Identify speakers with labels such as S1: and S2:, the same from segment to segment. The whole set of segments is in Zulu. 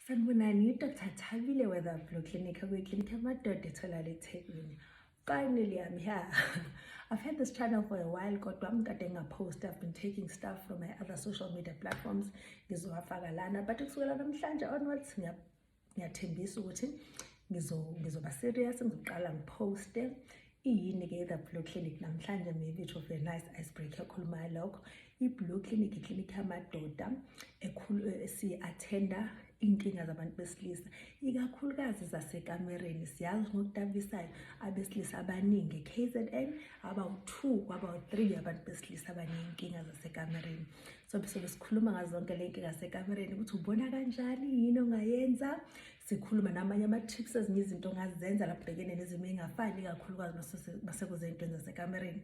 S1: Sanibonani, Dr. Thabile Weather Blue Clinic, a clinic amadoda etholakala eThekwini. Finally, I'm here. I've had this channel for a while kodwa mkade ngapost I've been taking stuff from my other social media platforms ngizowafaka lana but kusukela namhlanje onwards ngiyathembisa ukuthi ngizoba serious ngizoqala ngiposte iyini-ke i-the blue clinic namhlanje maybe it will be a nice icebreaker ekhulumayo lokho i-blue clinic iklinikhi yamadoda esiyi-athenda inkinga zabantu besilisa ikakhulukazi zasekamereni siyazi ngokudabisayo abesilisa abaningi e-kzn abawu-two kwabawu-three abantu besilisa abaneyinkinga zasekamereni sobe sobe sikhuluma ngazo zonke le nkinga sekamereni ukuthi ubona kanjani yini ongayenza sikhuluma namanye ama-tips ezinye izinto ongazenza lapho bhekene nezimo ey'ngafani kakhulukazi masekuze ey'ntweni zasekamereni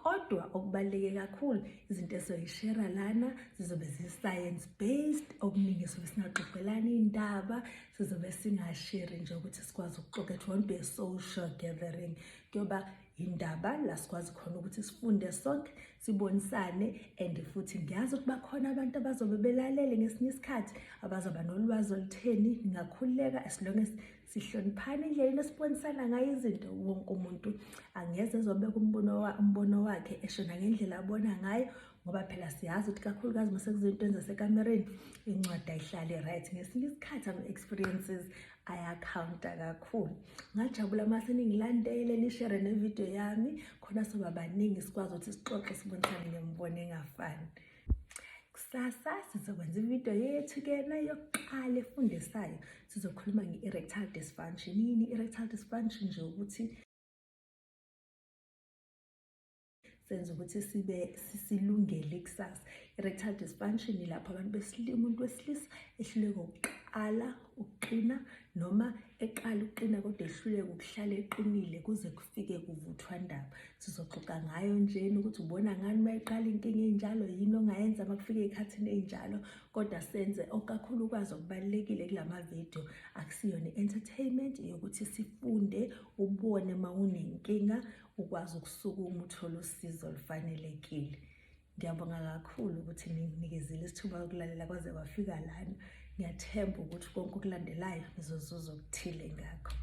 S1: kodwa okubaluleke kakhulu izinto esoyishera lana zizobe zi-science based okuningi sobe singaxoxelani iy'ndaba sizobe singasheri nje ukuthi sikwazi ukuxoxa it won't be a social gathering kuyoba indaba la sikwazi khona ukuthi sifunde sonke sibonisane and futhi ngiyazi ukuba khona abantu abazobe belalele ngesinye isikhathi abazoba nolwazi olutheni ngingakhululeka as long as sihloniphane endleleni esibonisana ngayo izinto wonke umuntu angeze ezobeka umbono umbono wakhe eshona ngendlela abona ngayo ngoba phela siyazi ukuthi kakhulukazi uma sekuzinto ezasekamereni incwadi ayihlale right ngesinye isikhathi ama-experiences ayakhawunta kakhulu ngajabula uma seningilandele nishere nevidiyo yami khona soba baningi sikwazi ukuthi sixoxe sibonisane ngemibono engafani kusasa sizokwenza ividiyo yethu kena yokuqala efundisayo sizokhuluma nge-erectile dysfunction yini i-erectile dysfunction nje ukuthi senza ukuthi sibe sisilungele ikusasa i-rectal dysfunction ilapho abantu besilima umuntu wesilisa ehluleka ukuqala ukuqina noma eqala ukuqina kodwa ehluleka ukuhlala eqinile kuze kufike kuvuthwa ndaba sizoxoxa ngayo njena ukuthi ubona ngani uma iqala inkinga enjalo yini ongayenza uma kufika ey'khathini ey'njalo kodwa senze okakhulukazi okubalulekile kula mavidiyo akusiyona i-entertainment yokuthi sifunde ubone uma unenkinga ukwazi ukusukuma uthole usizo olufanelekile ngiyabonga kakhulu ukuthi ninginikezile isithuba yokulalela kwaze kwafika lana ngiyathemba ukuthi konke okulandelayo nizozuza okuthile ngakho